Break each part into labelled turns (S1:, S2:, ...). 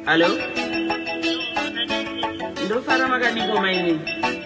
S1: Hello? Ndofara makadiko maine.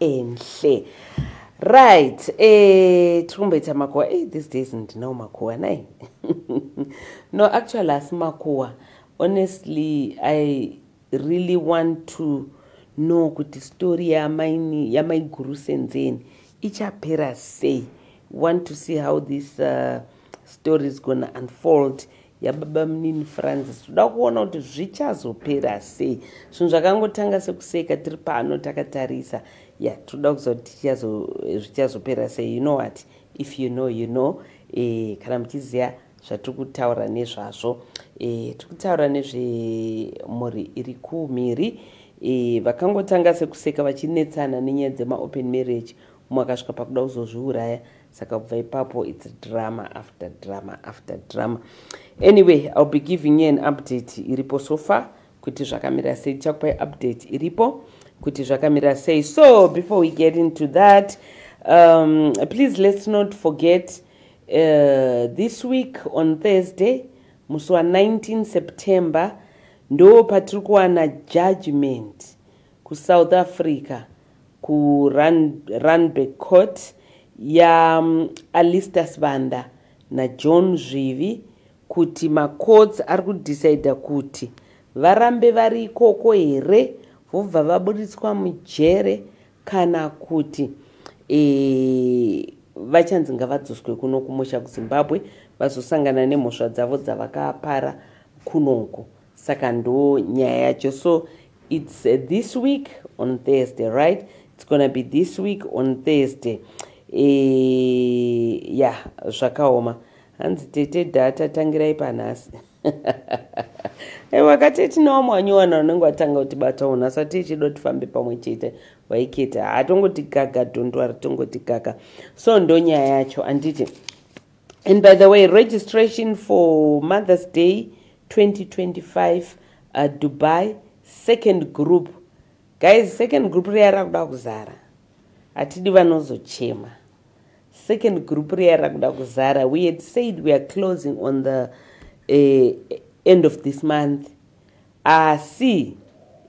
S1: enhle right eh, tiri kumboita makuwa hey, eh, these days ndinawo makuwa nai no actually asi makuwa honestly i really want to know kuti story yamaini yamaiguru senzeni ichapera sei want to see how this uh, story is gonna unfold yababa munini francis toda kuona kuti zvichazopera sei zvinhu zvakangotanga sekuseka tiri pano takatarisa ya toda kuziva kuti zvichazopera sei you know what if you know you know e, kana muchiziva zvatiri kutaura nezvazvo e, tiri kutaura nezvemhuri iri kumhiri e, vakangotanga sekuseka vachinetsana nenyaya dzemaopen marriage mumwe akasvika pakuda kuzozviuraya saka kubva ipapo its drama after drama after drama anyway ill be giving you an update iripo so far kuti zvakamira sei tichakupai update iripo kuti zvakamira sei so before we get into that um, please let's not forget uh, this week on thursday musi wa 19 september ndo patiri kuwana judgment kusouth africa kuranburg court yaalister mm, sibanda najohn zvivi kuti macourts ari kudecida kuti varambe vari ikoko here vobva vaburitswa mujere kana kuti e, vachanzi ngavadzoswe kuno kumusha kuzimbabwe vazosangana nemhosva dzavo dzavakapara kunoko saka ndo nyaya yacho so it's uh, this week on thursday right it's gonna be this week on thursday e, eh, ya zvakaoma hanzi tete data tangirai panhasi wakati tinawo mwanyi wana vanenge vatanga kuti bata unha sati ichido tifambe pamwe chete waiketa hatongoti gaga dhondwari tongoti gaga so ndonyaya yacho anditi and by the way registration for mothers day 2025 uh, dubai second group guys second group riya rakuda kuzara hatidi vanozochema second group riya rakuda kuzara we had said we are closing on the uh, end of this month asi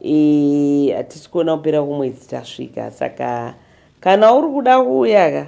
S1: eh, hatisi uh, kuona kupera kwemwedzi tasvika saka kana uri kuda kuuya ka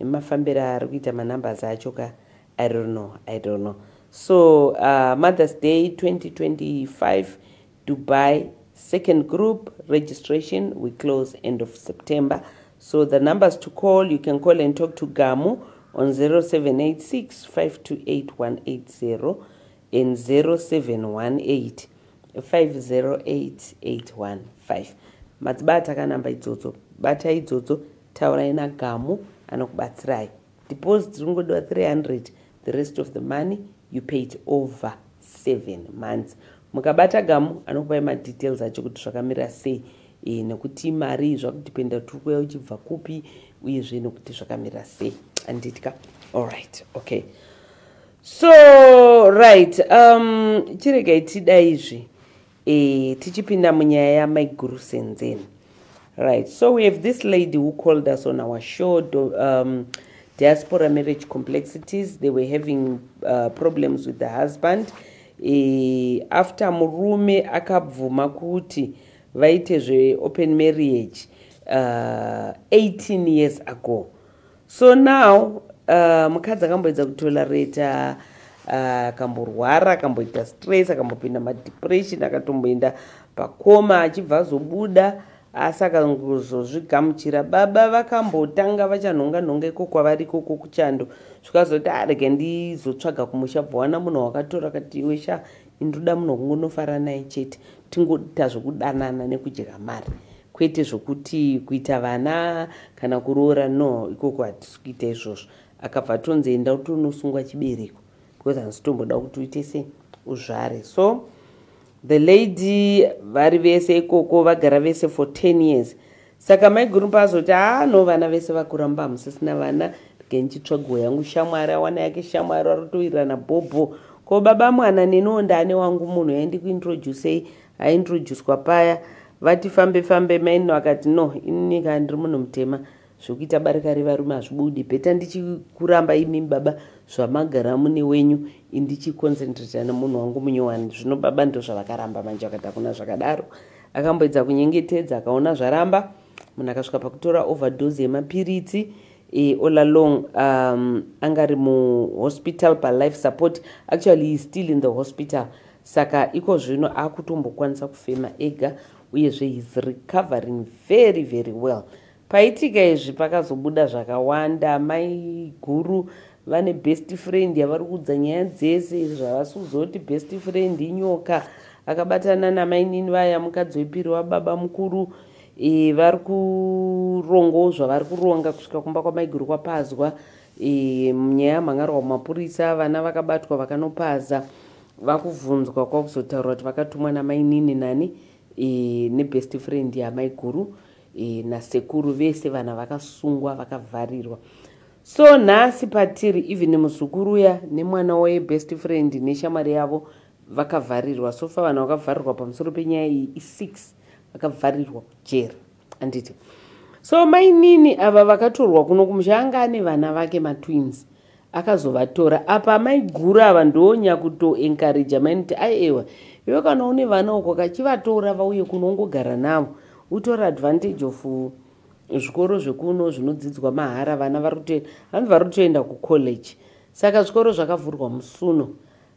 S1: nemafambira ari kuita manumbers acho ka i don't know i don't know so uh, mothers day 2025 dubai second group registration we close end of september so the numbers to call you can call and talk to gamu on 0786 528 180 and 0718 508 815 madzibata kanamba idzodzo bata idzodzo Taurai naGamu anokubatsirai. Deposit rinongodiwa 300 the rest of the money you pay it over 7 months. Mukabata Gamu anokupai madetails acho kuti zvakamira sei e, nekuti mari zvakudependa kuti ukuya uchibva kupi uyezve nekuti zvakamira sei anditya allright okay so right um, chiregai tidaizve eh, tichipinda munyaya yamaiguru senzeni right so we have this lady who called us on our show do, um, diaspora marriage complexities they were having uh, problems with the husband e, after murume akabvuma kuti vaite zveopen marriage uh, 18 years ago so now uh, mukadzi akamboedza kutolerata uh, akamborwara uh, akamboita stress akambopinda madepression akatomboenda pakoma achibva azobuda asi akangozozvigamuchira baba vakambotanga vachanhonga nhonga iko kwavari ikoko kuchando zvikazoti arege ah, ndizotsvaga kumusha bvowana munhu wakatora kati iwe sha Ndinoda munhu wekungonofara naye chete tingoita zvekudanana nekudya mari kwete zvokuti kuita vana kana kuroora no ikoko hatisi kuita izvozvo akabva atonzi enda kuti unosungwa chibereko because handisi tomboda kuti uite sei uzvare so the lady vari vese ikoko vagara vese for 10 years saka maiguru paazoti haa no vana vese vakuramba hamusisina vana rege ndichitsvagiwo yangu shamwari awana yake shamwari varotowirirana bhobho ko baba mwana neniwo ndaane wangu munhu yaindikuintroducei aintroducwa paya vati fambe fambe maino akati no ininika ndiri munhu mutema zvekuita barika revarume hazvibudi bheta ndichikuramba imi baba zvamagara mune wenyu indichiconcentratana munhu wangu munyowani zvino baba ndozvavakaramba manje vakati hakuna zvakadaro akamboedza kunyengetedza akaona zvaramba munhu akasvika pakutora overdose yemapiritsi e, all along um, anga ari muhospital palife support actually is still in the hospital saka iko zvino akutombokwanisa kufema ega uyezve his recovering very very well Paitika izvi pakazobuda zvakawanda mai guru vane best friend yavari kuudza nyaya dzese izvi zvavasi kuziva kuti best friend inyoka akabatana namainini vaya mukadzi wepiri wababa mukuru e, vari kurongawo zvavari kuronga kusvika kumba kwamaiguru kwapazwa e, nyaya yamhangarwa kumapurisa vana vakabatwa vakanopaza vakuvhunzwa kwakuzotaura kuti vakatumwa namainini nani e, nebest friend yamaiguru e, nasekuru vese vana vakasungwa vakavharirwa so nhasi patiri even muzukuru uya nemwana waye best friend neshamwari yavo vakavharirwa sofa vanhu vakavharirwa pamusoro penyaya iyi isix vakavharirwa jeri anditi so mainini ava vakatorwa kuno kumusha anga ane vana vake matwins akazovatora apa amai guru ava ndonya kutoenkarija mainiti aiewa iwe kana une vana uko kachivatora vauye kuno ungogara navo utori advantage of uh, zvikoro zvekuno zvinodzidzwa mahara vana varute hanzi vari kutoenda kucollege saka zvikoro zvakavhurwa musuno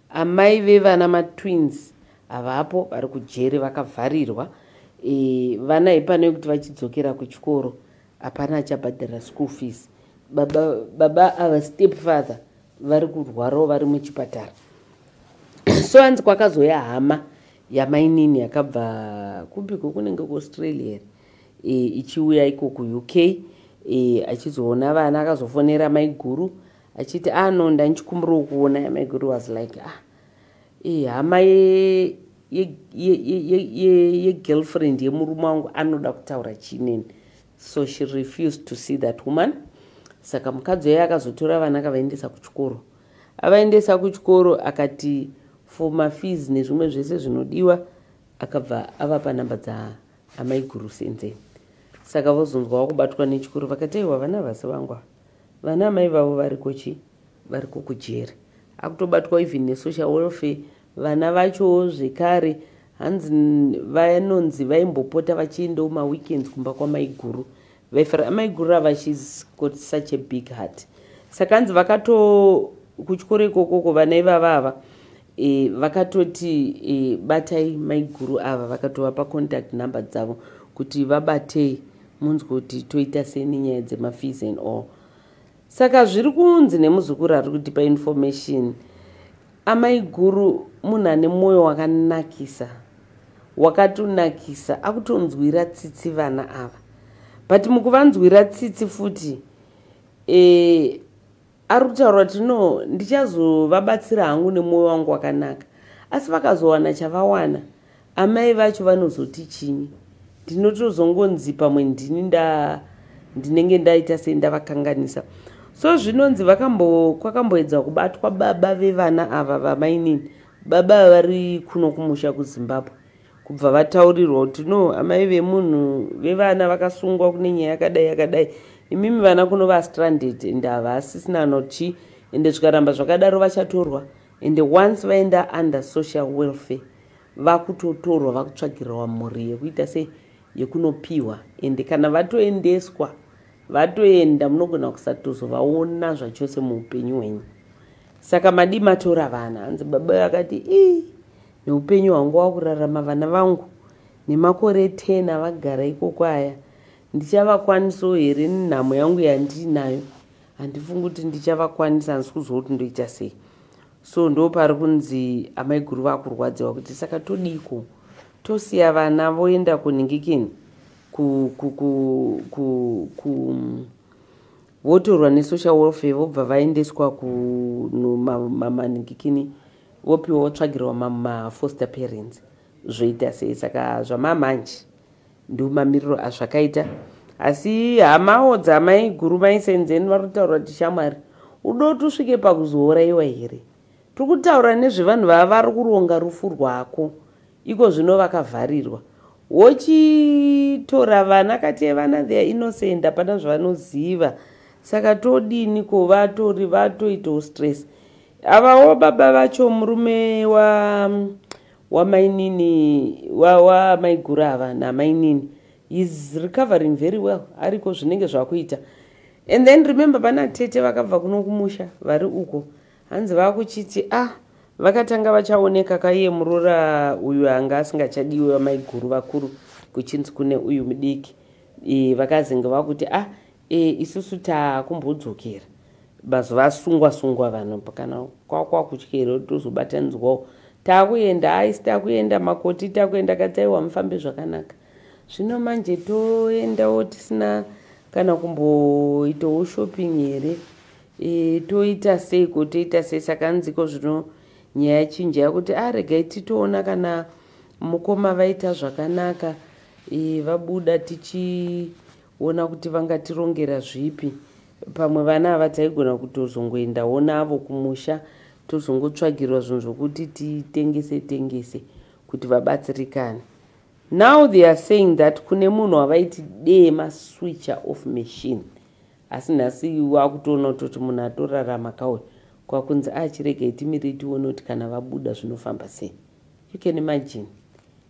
S1: amai vevana matwins havapo vari kujere vakavharirwa e, vana hepane kuti vachidzokera kuchikoro hapana achabhadhara school fees baba, baba ava step father vari kurwarawo vari muchipatara so anzi kwakazoya hama yamainini yakabva kupiko kunenge kuaustralia e, ichiuya iko kuuk e, achizoona vana akazofonera maiguru achiti ano ah, ndandichikumbirawo kuona maiguru was like ah e, hama yegirlfriend ye, ye, ye, ye yemurume wangu anoda kutaura chineni so she refused to see that woman saka mukadzi waye akazotora vana akavaendesa kuchikoro avaendesa kuchikoro akati for mafees nezvimwe zvese zvinodiwa akabva avapa namba dzaamaiguru senzeni saka vozonzwa wakubatwa nechikoro vakati aiwa vana vasi vangu ava Vana amai vavo variko chi variko kujeri. Akutobatwa even nesocial welfare vana vacho zvekare hanzi vanonzi vaimbopota vachiendawo maweekends kumba kwamaiguru vaifara amaiguru ava shes got such a big heart saka hanzi vakato kuchikoro ikokoko vana ivava ava e, vakatoti e, batai maiguru ava vakatovapa contact number dzavo kuti vabatei munzwe kuti toita sei nenyaya dzemafees and all saka zviri kunzi nemuzukuru ari kutipa information amaiguru munhu ane mwoyo wakanakisa wakatonakisa akutonzwira tsitsi vana ava but mukuvanzwira tsitsi futi e, ari kutaura kuti no ndichazovabatsira hangu nemwoyo wangu wakanaka asi vakazowana chavawana amai vacho vanozoti chini ndinotozongonzi pamwe ndini nda ndinenge ndaita sei ndavakanganisa so zvinonzi vakambo kwakamboedza kubatwa baba vevana ava vamainini baba vari kuno kumusha kuzimbabwe kubva vataurirwa kuti no amai vemunhu vevana vakasungwa kune nyaya yakadai yakadai imimi vana kuno vastranded ende havasisina anochi ende zvikaramba zvakadaro vachatorwa ende once vaenda under social welfare vakutotorwa vakutsvagirwa mhuri yekuita sei yekunopiwa ende kana vatoendeswa vatoenda munogona kusatozovaona zvachose muupenyu hwenyu saka madii matora vana hanzi baba vakati ii neupenyu hwangu wakurarama vana vangu nemakore 10 avagara ikoko aya ndichavakwanisawo here nenhamo yangu yandiinayo handifungi kuti ndichavakwanisa handisi kuziva kuti ndoita sei so ndo pari kunzi amaiguru vakurwadziwa kuti saka todiiko tosiya vana voenda kuningikini ku, ku, ku, ku, ku votorwa nesocial welfare vobva vaendeswa kunomamaningikini ma, ma, vopiwa votsvagirwa mafoster parents zvoita sei saka zvamamanje ndiwo mamiriro azvakaita asi hamawo dzamai guru maisenzeni vari kutaura kuti shamwari udo tusvike pakuzouraiwa here tiri kutaura nezvevanhu vava vari kuronga rufu rwako iko zvino vakavharirwa wochitora vana kati evana thea innocent hapana zvavanoziva saka todini ko vatori vatoitawo stress avawo baba vacho murume wa wamainini wamaigura ava namainini is recovering very well ariko zvinenge zvakuita and then remember pana tete vakabva kuno kumusha vari uko hanzi vakuchiti ah vakatanga vachaoneka kaiye murora uyu anga asingachadiwe vamaiguru vakuru kuchinzi kune uyu mudiki e, vakazinge vakuti ah e, isusu takumbodzokera mazuva asungwa sungwa vanhu kana kwakwakutyero tozobatanidzwawo takuenda aisi takuenda makoti takuenda kataiwa mufambe zvakanaka zvino manje toendawo tisina kana kumboitawo shopping here e, toita seiko toita sei saka nziko zvino nyaya chinja yakuti aregai ah, titoona kana mukoma vaita zvakanaka e, vabuda tichi wona kuti vangatirongera zvipi pamwe vana ava taigona kutozongoenda wona avo kumusha tozongotsvagirwa zvinhu zvokuti titengese tengese kuti vabatsirikane now they are saying that kune munhu wavaiti dee maswitcher of machine asi nhasi wakutoona kutoti munhu atorarama kawe kwakunzi achirega ah, itimire tione kuti kana vabuda zvinofamba sei you can imagine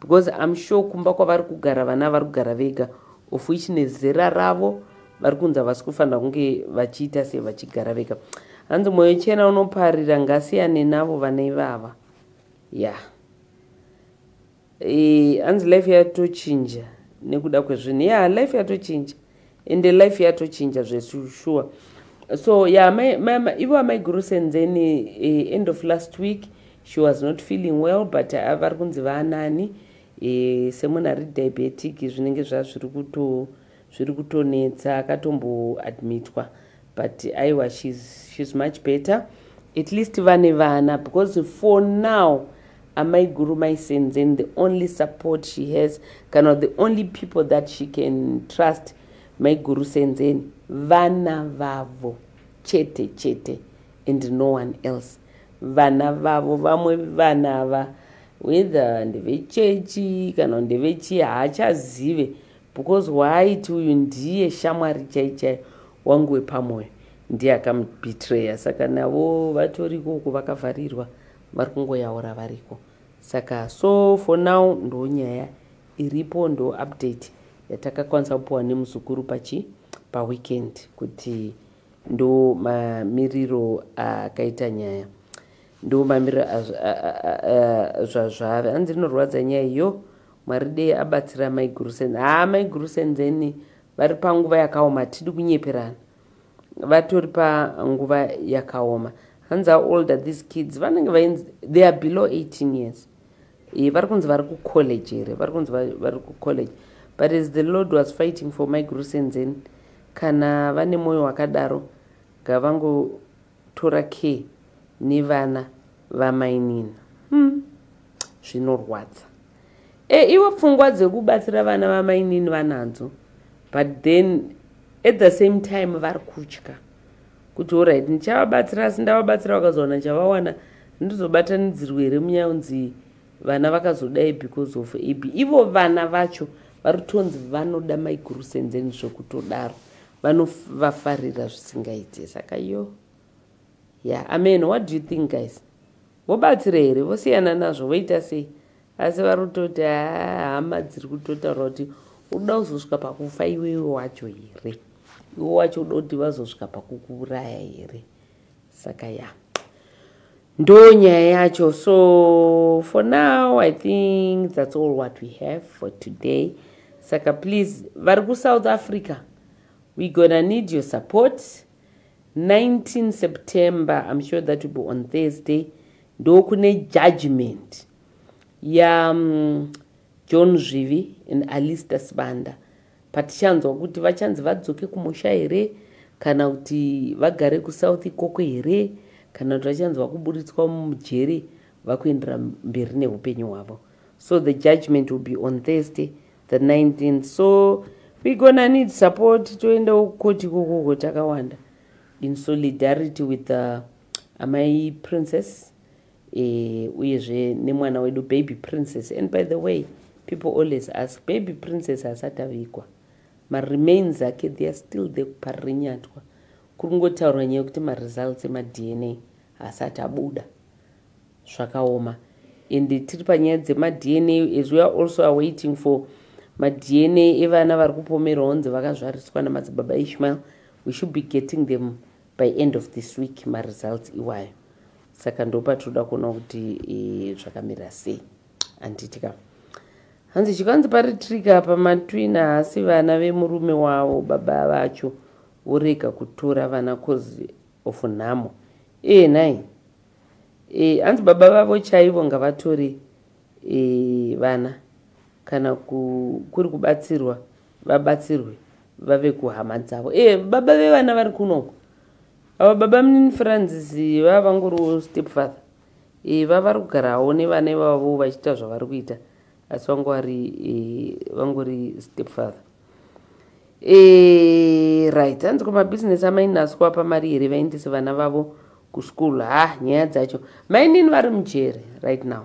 S1: because im sure kumba kwavari kugara vana vari kugara vega of which nezera ravo vari kunzi havasi kufanira kunge vachiita se vachigara vega hanzi mwoyo chena unoparira ngasiyane navo vana ivava ya yeah. e, hanzi life yatochinja nekuda kwezvinhu ya yeah, life yatochinja ende life yatochinja zvesure so ya yeah, mama ivo amai guru senzeni uh, end of last week she was not feeling well but uh, vari kunzi vaanani uh, eh, semunhu ari diabetic zvinenge zvazviri kuto zviri kutonetsa akatomboadmitwa but aiwa she's, she's much better at least vane vana because for now amai guru mai senzen the only support she has kana the only people that she can trust mai guru senzeni vana vavo chete chete and no one else vana vavo vamwe vana ava whether ndevechechi kana ndevechii haachazive because waaiti uyu ndiye shamwari chaichai wangu wepamwoyo ndiye akamubetreya saka navo vatoriko uko vakavharirwa vari kungoyaura variko saka so for now ndo nyaya iripo ndo update yatakakwanisa kupiwa nemuzukuru pachi paweekend kuti ndo mamiriro akaita nyaya ndo mamiriro zvazvave hanzi rinorwadza nyaya iyo mwari dei abatsira maigurusen haa maigurusen then vari panguva yakaoma hatidi kunyeperana vatori panguva yakaoma hanzi aolder these kids vanenge vainzi they are below 18 years e, vari kunzi vari kucollege here vari kunzi vari kucollege but as the lord was fighting for mike rusenzeni kana vane mwoyo wakadaro ngavangotora care nevana vamainini hmm. zvinorwadza e iwe pfungwa dzekubatsira vana vamainini vanadzo but then at the same time vari kutya kuti orit ndichavabatsira asi ndavabatsira vakazowana chavawana ndizobatanidzirwa here munyaunzi vana vakazodai because of ab ivo vana vacho vari kutonzi vanoda maiguru senzeni zvekutodaro vanovafarira zvisingaite saka yo ya yeah. amen what do you think guys Vobatsira here vosiyana nazvo voita sei asi vari kutoti ah, hama dziri kutotaura kuti unoda kuzosvika pakufa iwewe wacho here iwe wacho unoda kuti vazosvika pakukuuraya here saka ya ndo nyaya yacho so for now i think thats all what we have for today saka please vari kusouth africa we gonna need your support 19 september im sure that will be on thursday ndokune judgment ya um, john zvivi and alista sibanda patichanzwa kuti vachanzi vadzoke kumusha here kana kuti vagare kusouth ikoko here kana kuti vachanzi vakuburitswa mujeri vakuendera mberi neupenyu hwavo so the judgment will be on thursday the 19 so we gonna need support toenda kukoti kokoko takawanda in solidarity with the uh, amai princess eh, uyezve nemwana wedu baby princess and by the way people always ask baby princess asati avigwa maremains ake they are still there kuparinyatwa kuri kungotaurwa nyaya yekuti maresults emadna asati abuda zvakaoma and tiri panyaya dzemadna as we are also are waiting for madna evana vari kupomerwa onzi vakazvariswa namadzibaba ishmael we should be getting them by end of this week maresults iwayo saka ndopatinoda kuona kuti e, zvakamira sei anditika hanzi chikanzi pari trika pamatwina haasi vana vemurume wavo baba vacho vorega kutora vana cause of nhamo ee eh, nhai e, hanzi baba vavo chaivo ngavatore e, vana kana ku, kuri kubatsirwa vabatsirwe vave kuhama dzavo e, baba vevana vari kunoko ava baba mnini francis vava vangoriwo step father e, vava vari kugarawo nevana ivavo vachiita zvavari kuita asi vangori e, vangori step father Eh, right hanzi ko mabusiness amainaswa apa mari here vaendese vana vavo kuschool ha nyaya dzacho mainini vari mujere right now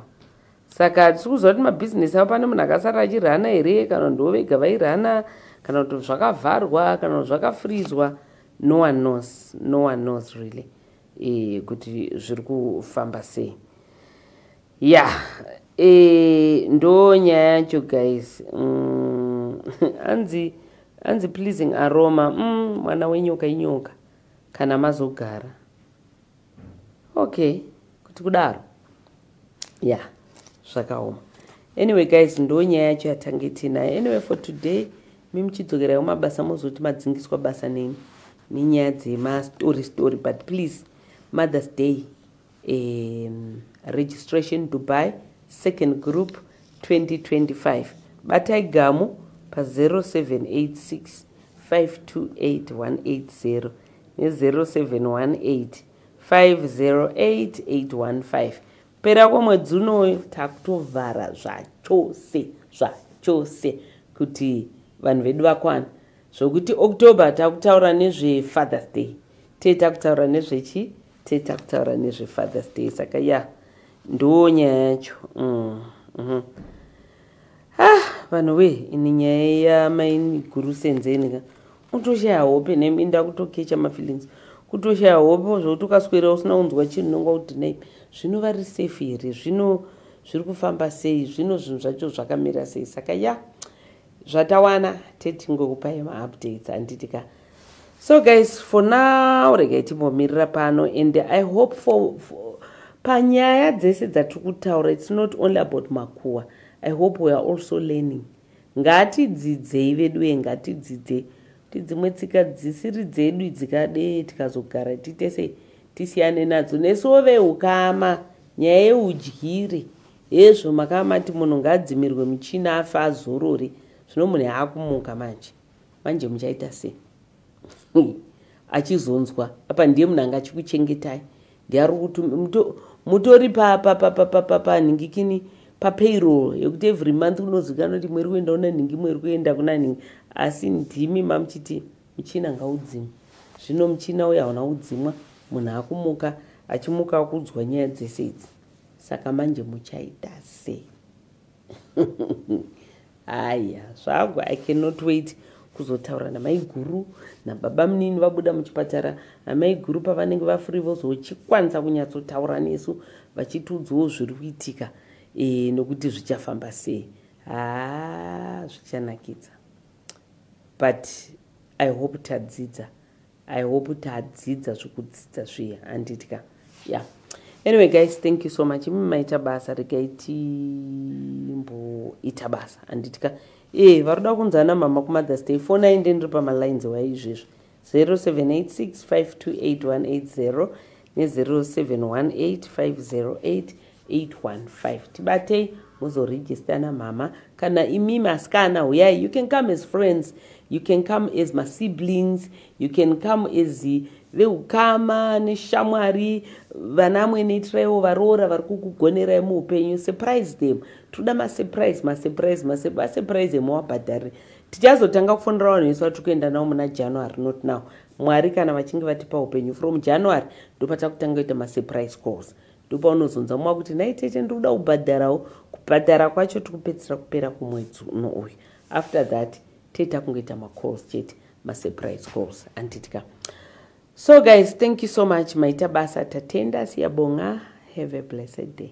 S1: saka hatisi kuziva kuti mabusiness avo pane munhu akasara achirana here kana ndo vega vairana kana kuti zvakavharwa kana kuti zvakafrizwa no one knows no one knows really e, kuti zviri kufamba sei ya e, ndo nyaya yacho guys mm, hanzi hanzi pleasing aroma mm, mwana wenyoka inyoka kana mazogara okay kuti kudaro ya yeah, zvakaoma anyway guys ndo nyaya yacho yatange tinayo anyway for today mi muchidzokerawo mabasa mozoti madzingiswa basa neni nenyaya dzemastory story but please mothers day um, registration dubai second group 2025 batai gamu pa0786 528180 ne0718 508815 pera kwemwedzi unoyo takutovhara zvachose zvachose kuti vanhu vedu vakwana zvokuti october takutaura nezvefathers day tee takutaura nezvechi tee takutaura nezvefathers day saka ya ndo nyaya yacho mm, mm-hmm. ah, vanhu wee ini nyaya yamaini guru senzeni ka kutoshaya hope nemi ndakutokecha mafeelings kutoshaya hope zvokuti ukaswera usina kunzwa chinhu nonga kuti nei zvino vari safe here zvino zviri kufamba sei zvino zvinhu zvacho zvakamira sei saka ya zvatawana tetingokupai maupdates handiti ka so guys for now regai timbomirira pano and i hope for, for panyaya dzese dzatiri kutaura its not only about makuwa i hope weare also learning Ngatidzidzei veduwe ngatidzidze kuti dzimwe tsika dzisiri dzedu idzikade tikazogara titese tisiyane nadzo nesuwo veukama nyaya yeudyire hezvo makava mati munhu ngadzimirwe muchina afa azorore zvino munhu yaakumuka manje manje muchaita sei achizonzwa apa ndiye munhu anga achikuchengetai ndiari kuti mutori panhingikini papayroll yekuti every month unozikana kuti mweri kuenda una nhingi mweri kuenda kuna nhingi asi ndimi mamuchiti muchina ngaudzimwa zvino muchina uyo hauna kudzimwa munhu akumuka achimuka kunzwa nyaya dzese idzi saka manje muchaita sei haya zvago i cannot wait kuzotaura namaiguru nababa munini vabuda muchipatara amaiguru pavanenge vafuri vozochikwanisa kunyatsotaura nesu vachitiudzawo zviri kuitika e, nokuti zvichafamba sei haa zvichanakidza but i hope tadzidza i hope kuti adzidza zvekudzidza zviya handitya ya anyway guys thank you so much imi maita basa regai timboita basa handitya ee eh, varoda kunzana mama kumothers day foni ainde ndiri pamalines waya izvezvi 0786 528 180 ne 0718 508 815 tibatei muzoregister namhama kana imi masikana huyai you can come as friends you can come as masiblings you can come as veukama neshamwari vana amwene itiraiwo varoora vari kukugonerai muupenyu surprise them toda masurprise masurprise masurprise emawabhadhari tichazotanga kufonera vanhu vese vatiri kuenda navo muna january not now mwari kana vachinge vatipa upenyu from january ndopatava kutanga kuita masurprise calls ndopaunozonzwa mwa kuti nhai tete ndiri kuda kubhadharawo kubhadhara kwacho tiri kupedzisira kupera kumwedzi uno uyu after that tete akungoita macalls chete masurprise calls anditika so guys thank you so much maita basa tatenda siyabonga have a blessed day